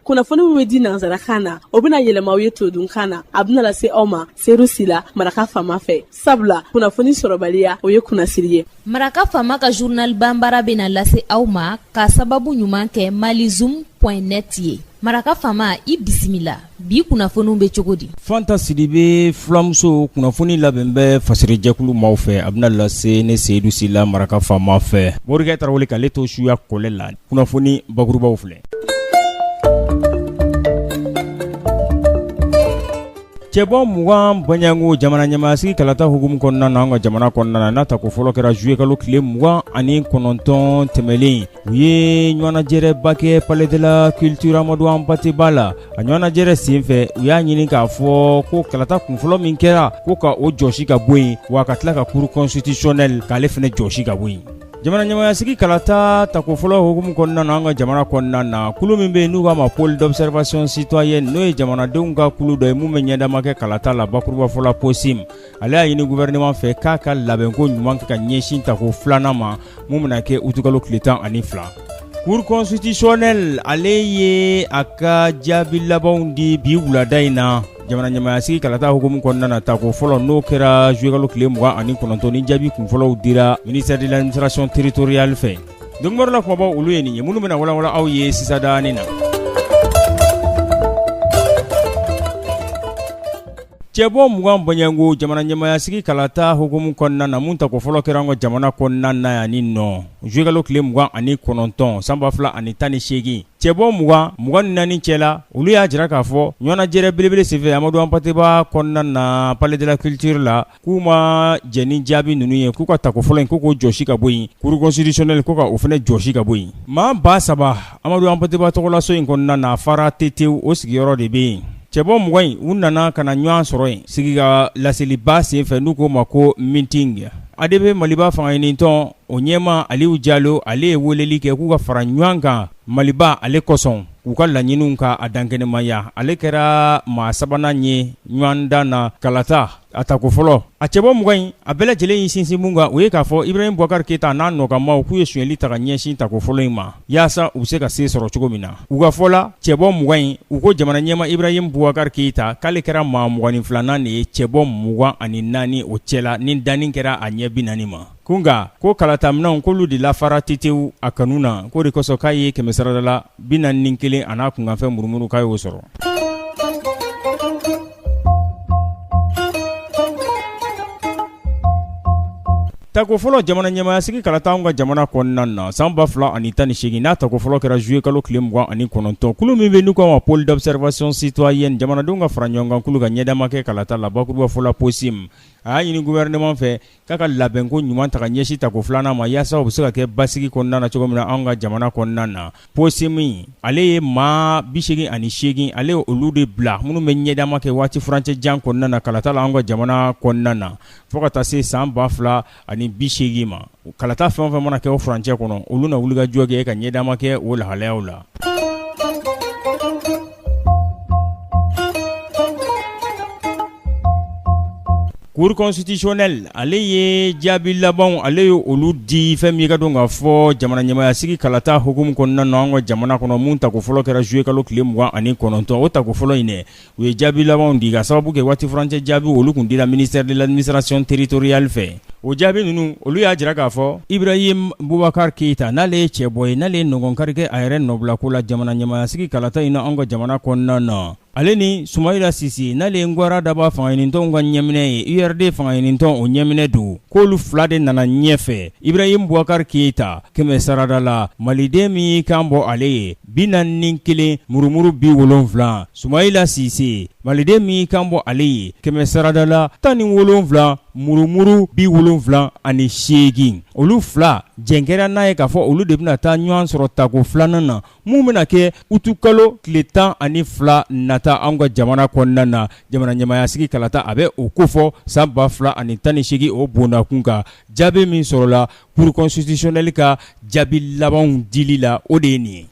kunnafoni min bɛ di nansarakan na o bɛna yɛlɛma aw ye todunkan na a bɛna lase aw ma seyidu sila maraka faama fɛ sabula kunnafoni sɔrɔbaliya o ye kunnasiri ye maraka faama ka journal banbara bɛna lase aw ma k'a sababu ɲuman kɛ malizoom point net ye maraka faama i bisimila bi kunnafoniw bɛ cogo di fanta sidibe fulamuso kunnafoni labɛn bɛ fasiri jɛkulu maaw fɛ a bɛna lase ne seyidu sila maraka faama fɛ morikɛ tarawele k'ale to suya kɔlɛ la kunnafoni bakurubaw filɛ cɛbɔ mugan bɔnɲɔgo jamana ɲɛmaasigi kalata hukumu kɔnɔna na an ka jamana kɔnɔna na n'a tako fɔlɔ kɛra zuyekalo tile mugan ani kɔnɔntɔn tɛmɛnlen u ye ɲɔgɔnnajɛrɛba kɛ palais de la culture amadu hanpate ba la a ɲɔgɔnnajɛrɛ senfɛ u y'a ɲini k'a fɔ ko kalata kunfɔlɔ min kɛra ko ka o jɔsi ka bɔ yen wa ka tila ka cour constitutionnelle k'ale fana jɔsi ka bɔ yen jamana ɲɛmaasigi kalata tako fɔlɔ hukumu kɔnɔna na an ka jamana kɔnɔna na kulu min bɛ yen n'u k'a ma pool d'observation citoyenne n'o ye jamanadenw ka kulu dɔ ye minnu bɛ ɲɛdama kɛ kalata la bakurubafɔ la pocim ale y'a ɲini gouvernement fɛ k'a ka labɛnko ɲuman kɛ ka ɲɛsin tako filanan ma mun bɛna kɛ utukalo tile tan ani fila cour constitutionnelle ale ye a ka jaabi labanw di bi wulada in na jamana ɲɛmaya sigi kalata hukumu kɔnɔna na tako fɔlɔ n'o kɛra zuyekalo tile mugan ani kɔnɔntɔn ni jaabi kunfɔlɔw dira ministère de l'administration territoriale fɛ donkibaru la kunbabaw olu ye nin ye minnu bɛna walawala aw ye sisadani na Cɛbɔ mugan bɔnɲɔgɔngo jamana ɲɛmaya sigi kalata hukumu kɔnɔna na min tako fɔlɔ kɛra an ka jamana kɔnɔna na yan ni nɔ zuyekalo tile mugan ani kɔnɔntɔn san ba fila ani tan ni segin cɛbɔ mugan mugan ni naani cɛ la olu y'a jira k'a fɔ ɲɔgɔnnajɛrɛ belebele senfɛ amadu hanpate ba kɔnɔna na palais de la culture la k'u ma jɛn ni jaabi ninnu ye k'u ka tako fɔlɔ in ko k'o jɔsi ka bɔ yen cour constitutionnelle ko ka o fana jɔsi ka bɔ yen maa ba saba amadu hanpate ba tɔgɔlaso in kɔnɔna na fara tete o sigiyɔrɔ de bɛ yen cɛbɔ mugan in u nana ka na ɲɔgɔn sɔrɔ yen sigi ka laseliba senfɛ n'u k'o ma ko meeting adp maliba fanga ɲinitɔn o ɲɛmaa aliyu jalo ale ye weleli kɛ k'u ka fara ɲɔgɔn kan maliba ale kosɔn k'u ka laɲiniw ka a dankɛnɛmaya ale kɛra maa sabanan ye ɲɔgɔndan na kalata A tako fɔlɔ a cɛbɔ mugan in a bɛɛ lajɛlen y'i sinsin min kan o ye k'a fɔ ibrahimu bubakari keyita n'a nɔkanmaaw k'u ye sonyali ta ka ɲɛsin tako fɔlɔ in ma yaasa u bɛ se ka se sɔrɔ cogo min na u ka fɔ la cɛbɔ mugan in u ko jamana ɲɛmaa ibrahimu bubakari keyita k'ale kɛra maa mugan ni filanan de ye cɛbɔ mugan ani naani o cɛ la ni danni kɛra a ɲɛ bi naani ma Ko nka ko kalata minɛnw k'olu de lafara tetewu a kanu na k'o de kosɔn k'a ye kɛmɛ sarada la bi naani ni kelen a n'a kunkanfɛn murumuru k'a y'o sɔrɔ Tako fɔlɔ jamana ɲɛmayasigi kalata anw ka jamana kɔnɔna na san 2018 n'a tako fɔlɔ kɛra juillet kalo tile mugan ani kɔnɔntɔn kulu min bɛ n'u k'a ma pôle d'observation citoyenne jamanadenw ka fara ɲɔgɔn kan kulu ka ɲɛdama kɛ kalata la bakurubafɔ la POCIM a y'a ɲini gouvernement fɛ K'a ka labɛnko ɲuman ta ka ɲɛsin tako filanan ma yaasa u bɛ se ka kɛ basigi kɔnɔna na cogo min na an ka jamana kɔnɔna na POCIM ale ye maa bi seegin ani seegin ale ye olu de bila minnu bɛ ɲɛdama kɛ waati furancɛ jan kɔnɔna na kalata la an ka jamana kɔnɔna na fo ka taa se san ba fila ani bi seegin ma kalata fɛn o fɛn mana kɛ o furancɛ kɔnɔ olu na wuli ka jɔ kɛ ka ɲɛdama kɛ o lahalaya la Cour constitutionnelle ale ye jaabi labanw ale ye olu di fɛn min y'i k'a dɔn k'a fɔ jamana ɲɛmayasigi kalata hukumu kɔnɔna na an ka jamana kɔnɔ minnu tako fɔlɔ kɛra juillet kalo tile mugan ani kɔnɔntɔn o tako fɔlɔ in dɛ u ye jaabi labanw di ka sababu kɛ waati furancɛ jaabi olu kun dira ministère de l'administration territoriale fɛ O jaabi ninnu olu y'a jira k'a fɔ Ibrahim Boubacar Keita n'ale ye cɛbɔ ye n'ale ye nɔgɔnkari kɛ a yɛrɛ nɔbila ko la jamana ɲɛmayasigi kalata in na an ka jamana kɔnɔna na ale ni Soumaïla Cissé n'ale ye ngwara daba fanga ɲinitɔnw ka ɲɛminɛ ye URD fanga ɲinitɔn o ɲɛminɛ don k'olu fila de nana ɲɛfɛ Ibrahim Boubacar Keita kɛmɛ sarada la maliden min y'i kan bɔ ale ye bi naani ni kelen murumuru bi wolonwula Soumaïla Cissé maliden min y'i kan bɔ ale ye kɛmɛ sarada la tan ni wolonwula murumuru bi wolonwula ani seegin olu fila jɛkɛrɛn n'a ye k'a fɔ olu de bɛna taa ɲɔgɔn sɔrɔ tako filanan na min bɛna kɛ utukalo tile tan ani fila nata an ka jamana kɔnɔna na jamana ɲɛmayasigi kalata a bɛ o ko fɔ san ba fila ani tan ni seegin o bondakun kan jaabi min sɔrɔla cour constitutionnelle ka jaabi labanw dili la o de ye nin ye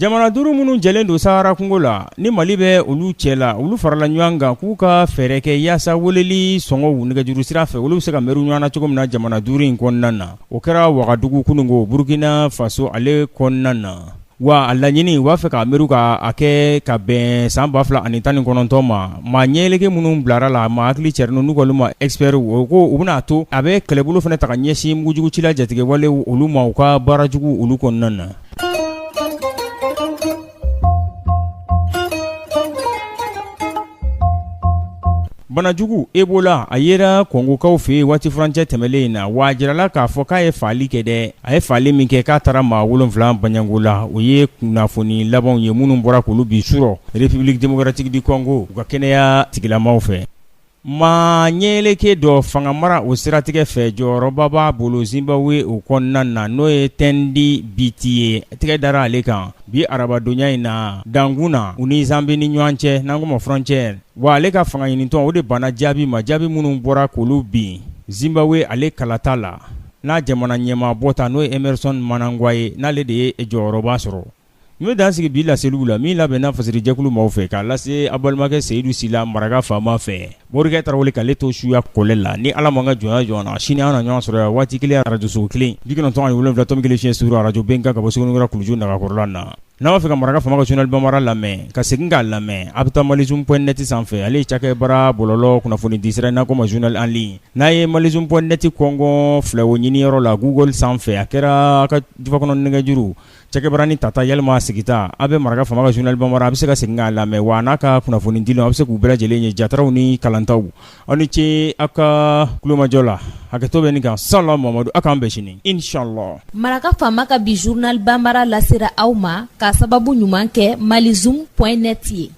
jamana duuru minnu jɛlen don sahara kungo la ni mali bɛ olu cɛ la olu farala ɲɔgɔn kan k'u ka fɛɛrɛ kɛ yaasa weleli sɔngɔw nɛgɛjuru sira fɛ olu bɛ se ka mɛru ɲɔgɔn na cogo min na jamana duuru in kɔnɔna na o kɛra wagadugu kununko burukina faso ale kɔnɔna na Wa a laɲini u b'a fɛ k'a mɛru k'a kɛ ka bɛn san ba fila ani tan ni kɔnɔntɔn ma maa ɲɛlege minnu bilara la maa hakili cɛrɛn ninnu n'u k'olu ma expertw u ko u bɛna'a to a bɛ kɛlɛbolo fana ta ka ɲɛsin mugujugucila jatigɛwale olu ma u ka baara jugu olu kɔnɔna na banajugu Ebola a yera Kongokaw fɛ yen waati furancɛ tɛmɛnlen in na wa a jirala k'a fɔ k'a ye fagali kɛ dɛ a ye fagali min kɛ k'a taara maa wolonwula banyanko la o ye kunnafoni labanw ye minnu bɔra k'olu bi surɔ république démocratique du Congo u ka kɛnɛya tigilamaw fɛ maa ɲɛyeleke dɔ fangamara o siratigɛ fɛ jɔyɔrɔba b'a bolo Zimbabwe o kɔnɔna na n'o ye Tendi Biti ye tɛgɛ dara ale kan Bi arabadonya in na dankun na u ni Zambie ni ɲɔgɔn cɛ n'an ko ma frontière wa ale ka fanga ɲinitɔn o de banna jaabi ma jaabi minnu bɔra k'olu bin Zimbabwe ale kalata la n'a jamana ɲɛmaa bɔta n'o ye Emerson Mnangagwa ye n'ale de ye jɔyɔrɔba sɔrɔ n bɛ dan sigi bi laseliw la min labɛnna fasiri jɛkulu maaw fɛ k'a lase a balimakɛ Seyidu Sila maraka faama fɛ Morikɛ tarawele ka ale to suya kɔlɛ la ni ala ma ka jɔn jɔ na sini an na ɲɔgɔn sɔrɔ yan waati kelen arajoso kelen bi kɔnɔntɔn ni wolonwula tomi kelen fiɲɛ suru arajo Bɛnkan ka bɔ sra kuluju nagakɔrɔla na n'a b'a fɛ ka maraka faama ka journal bambara lamɛn ka segin k'a lamɛn a bɛ taa malizoom point net sanfɛ ale ye cakɛbara bɔlɔlɔ kunnafoni di sira n'a ko ma journal en ligne n'a ye malizoom point net kɔngɔ filɛwo ɲiniyɔrɔ la Google sanfɛ a kɛra ka jufakɔnɔ nɛgɛjuru cakɛbaranin tata walima sigita a bɛ maraka faama ka journal bambara a bɛ se ka segin k'a lamɛn wa n'a ka kunnafoni dilenw a bɛ se k'u bɛɛ lajɛlen ye jataraw ni kalantaw aw ni ce aw ka kulomajɔ la hakɛto bɛ nin kan salam Mamadu a k'an bɛn sini inshallah maraka faama ka bi journal bambara lasera aw ma k'a sababu ɲuman kɛ malizoom point net ye